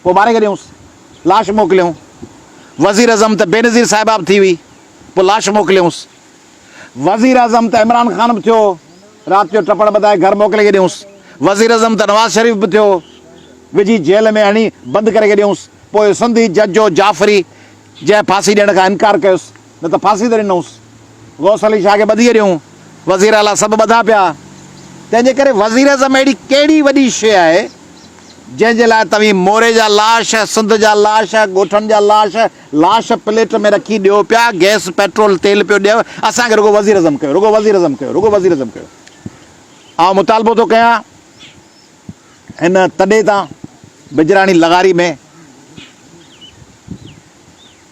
پوء ماري ڪڍيونس. لاش موڪليون. وزيراعظم ته بينظير صاحباب ٿي هئي. پوء لاش موڪليونس. وزيراعظم ته عمران خان به ٿيو. رات جو ٽپڙ ٻڌائي گهر موڪلي ڪڍيونس. وزيراعظم ته نواز شريف به ٿيو. وجهي جيل ۾ هڻي بند ڪري ڪڍيونس. پوء سنڌي جج جو جعفري جنهن ڦاسي ڏيڻ کان انڪار ڪيس. نه ته ڦاسي ته ڏنوس. غوث علي شاهه کي ٻڌيء ڏيون، وزير اعليٰ سڀ ٻڌا پيا. تنهن جي ڪري وزيراعظم اهڙي ڪهڙي وڏي شيء آهي، جنهن جي لاء توهين موري جا لاش، سنڌ جا لاش، ڳوٺن جا لاش، لاش پليٽ ۾ رکي ڏيو پيا، گئس، پيٽرول، تيل پيو ڏيو، اسان کي رڳو وزيراعظم ڪيو، رڳو وزيراعظم ڪيو، رڳو وزيراعظم ڪيو. آئون مطالبو ٿو ڪيان هن تڏي تان بجراڻي لغاري ۾.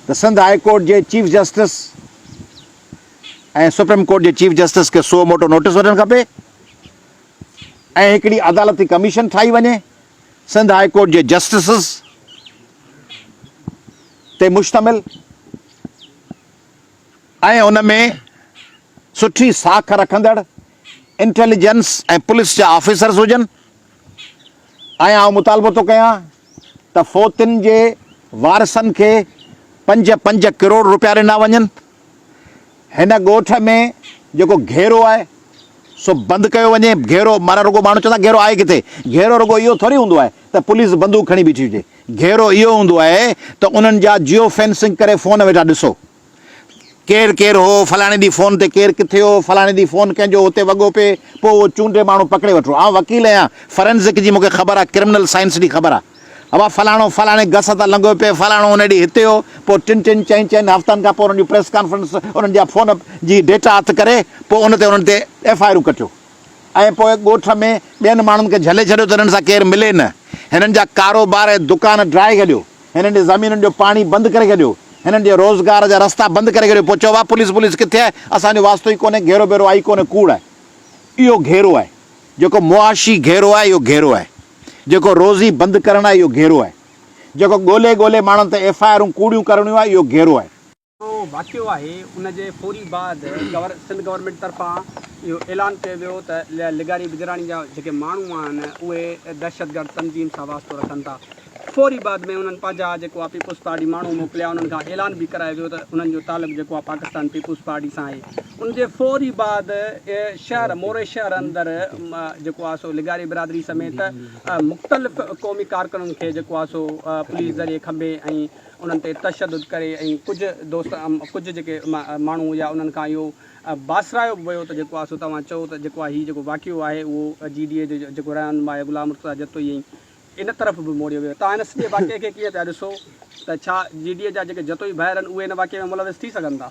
ته سنڌ هاء ڪورٽ جي چيف جسٽس ۽ سپريم ڪورٽ جي چيف جسٽس کي سو موٽو نوٽيس وٺڻ کپي ۽ هڪڙي عدالتي ڪميشن ٺاهي وڃي سنڌ هاء ڪورٽ جي جسٽسز تي مشتمل ۽ ان ۾ سٺي ساک رکندڙ انٽيليجنس ۽ پوليس جا آفيسرز هجن ۽ آئون مطالبو ٿو ڪيان ته فوتين جي وارثن کي پنج پنج ڪروڙ روپيا ڏنا وڃن، هن ڳوٺ ۾ جيڪو گهيرو آهي سو بند ڪيو وڃي، گهيرو معنيٰ رڳو ماڻهو چوندا گهيرو آهي ڪٿي، گهيرو رڳو اهو ٿوري هوندو آهي ته پوليس بندوق کڻي بيٺي هجي، گهيرو اهو هوندو آهي ته انهن جا جيو فينسنگ ڪري فون ويٺا ڏسو. ڪير ڪير هو، فلاڻي ڏينهن فون تي ڪير ڪٿي هو، فلاڻي ڏينهن فون ڪنهن جو هتي وڳو پئي، پوء اهو چونڊي ماڻهو پڪڙي وٺڻو. آئون وڪيل آهيان، فرينزڪ جي مون کي خبر آهي، ڪرمنل سائنس جي خبر آهي. اها فلاڻو فلاڻي گس تان لنگهيو پئي، فلاڻو ان ڏينهن هتي هو، پوء ٽن ٽن چئن چئن هفتن کان پوء انهن جون پريس ڪانفرنس، انهن جا فون جي ڊيٽا هٿ ڪري، پوء ان تي انهن تي ايف آء آرون ڪٽيو ۽ پوء ڳوٺ ۾ ٻين ماڻهن کي جهلي ڇڏيو ته هنن سان ڪير ملي نه. هنن جا ڪاروبار ۽ دڪان ڊرائي ڇڏيو. هنن جي زمينن جو پاڻي بند ڪري ڇڏيو، هنن جي روزگار جا رستا بند ڪري ڇڏيو پوء چئبو آهي پوليس ٻوليس ڪٿي آهي اسان جو واسطو ئي ڪونهي گهيرو بيرو آهي ئي ڪونهي ڪوڙ آهي اهو گهيرو آهي جيڪو معاشي گهيرو آهي اهو گهيرو آهي جيڪو روزي بند ڪرڻ آهي اهو گهيرو آهي جيڪو ڳولي ڳولي ماڻهن تي ايف آء آرون ڪوڙيون ڪرڻيون آهي اهو گهيرو آهي. اهو واقعو آهي ان جي فوري بعد سنڌ گورنمينٽ طرفان اهو اعلان ڪيو ويو ته لغاري بجراڻي جا جيڪي ماڻهو آهن اهي دهشتگرد تنظيم سان واسطو رکن ٿا فوري بعد ۾ انهن پنهنجا جيڪو آهي پيپلز پارٽي ماڻهو موڪليا انهن کان اعلان به ڪرايو ويو ته انهن جو تعلق جيڪو آهي پاڪستان پيپلز پارٽي سان آهي ان جي فوري بعد شهر موري شهر اندر جيڪو آهي سو لغاري برادري سميت مختلف قومي ڪارڪنن کي جيڪو آهي سو پوليس ذريعي کنڀي ۽ انهن تي تشدد ڪري ۽ ڪجهه دوست ڪجهه جيڪي ماڻهو هيا انهن کان اهو باسرايو به ويو ته جيڪو آ سو توهان چئو ته جيڪو آ هي جيڪو واقعو آهي اهو جي ڊي اي جو جيڪو رهنما آهي غلام مرتضيٰ جتوئي ۽ ان طرف به موڙيو ويو توهان هن سڄي واقعي کي ڪيئن پيا ڏسو ته ڇا جي ڊي اي جا جيڪي جتوئي ڀائر آهن اهي هن واقعي ۾ ملوث ٿي سگهن ٿا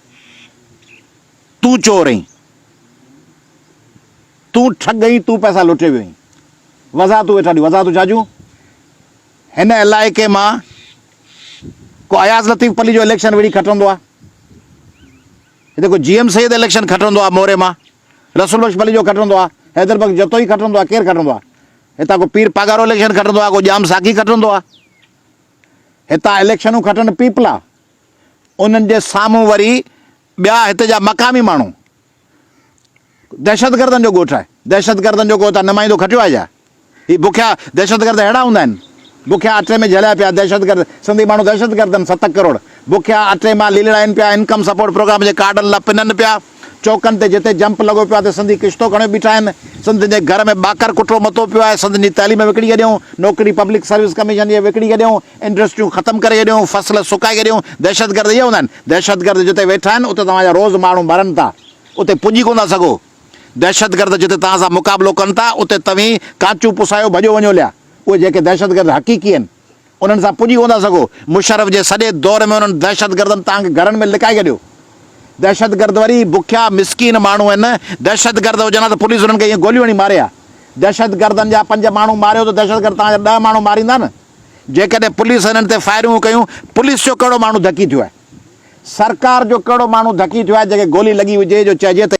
تون چور اهين، تون ٺڳ اهين، تون پئسا لٽي ويو اهين، وضاحتون ويٺا ڏيون، وضاحتون ڇا ڏيون؟ هن علائقي مان ڪو اياز لطيف پليجو اليڪشن وڙهي کٽندو آ، هتي ڪو جي ايم سيد اليڪشن کٽندو آ موري مان، رسول بخش پليجو کٽندو آ، حيدر بخش جتوئي کٽندو آ، ڪير کٽندو آ؟ هتان ڪو پير پاڳارو اليڪشن کٽندو آ، ڪو ڄام ساقي کٽندو آ، هتان اليڪشنون کٽن پيپلا، انهن جي سامهون وري ٻيا هت جا مقامي ماڻهو دهشتگردن جو ڳوٺ آهي دهشتگردن جو ڪو هتان نمائندو کٽيو آهي ڇا هي بکيا دهشتگرد اهڙا هوندا آهن بکيا اٽي ۾ جهليا پيا دهشتگرد سنڌي ماڻهو دهشتگردن ستڪ ڪروڙ بکيا اٽي مان ليلڙائين پيا انڪم سپورٽ پروگرام جي ڪارڊن لا پنن پيا. چوڪن تي جتي جمپ لڳو پيو آهي ته سنڌي ڪشتو کڻي بيٺا آهن، سنڌين جي گهر ۾ ٻاڪر ڪٽرو متو پيو آهي، سنڌين جي تعليم وڪڻي ڇڏيائون، نوڪري پبلڪ سروس ڪميشن جي وڪڻي ڇڏيائون، انڊسٽريون ختم ڪري ڇڏيائون، فصل سڪائي ڇڏيائون، دهشتگرد اهي هوندا آهن، دهشتگرد جتي ويٺا آهن اتي توهان جا روز ماڻهو مرن ٿا، اتي پڄي ڪونه ٿا سگهو، دهشتگرد جتي توهان سان مقابلو ڪن ٿا اتي توهين ڪانچون پسايو ڀڄو وڃو ليا، اهي جيڪي دهشتگرد حقيقي آهن. انهن سان پڄي ڪونه ٿا سگهو، مشرف جي سڄي دور ۾ انهن دهشتگردن توهان کي گهرن ۾ لڪائي ڇڏيو، دهشتگرد وري بکيا مسڪين ماڻهو آهن، دهشتگرد هجن ها ته پوليس انهن کي ائين گوليون هڻي ماري ها، دهشتگردن جا پنج ماڻهو ماريو ته دهشتگرد توهان جا ڏهه ماڻهو ماريندا نه، جيڪڏهن پوليس انهن تي فائرنگون ڪيون، پوليس جو ڪهڙو ماڻهو ڌڪي ٿيو آهي، سرڪار جو ڪهڙو ماڻهو ڌڪي ٿيو آهي جنهن کي گولي لڳي هجي جو چئجي ته.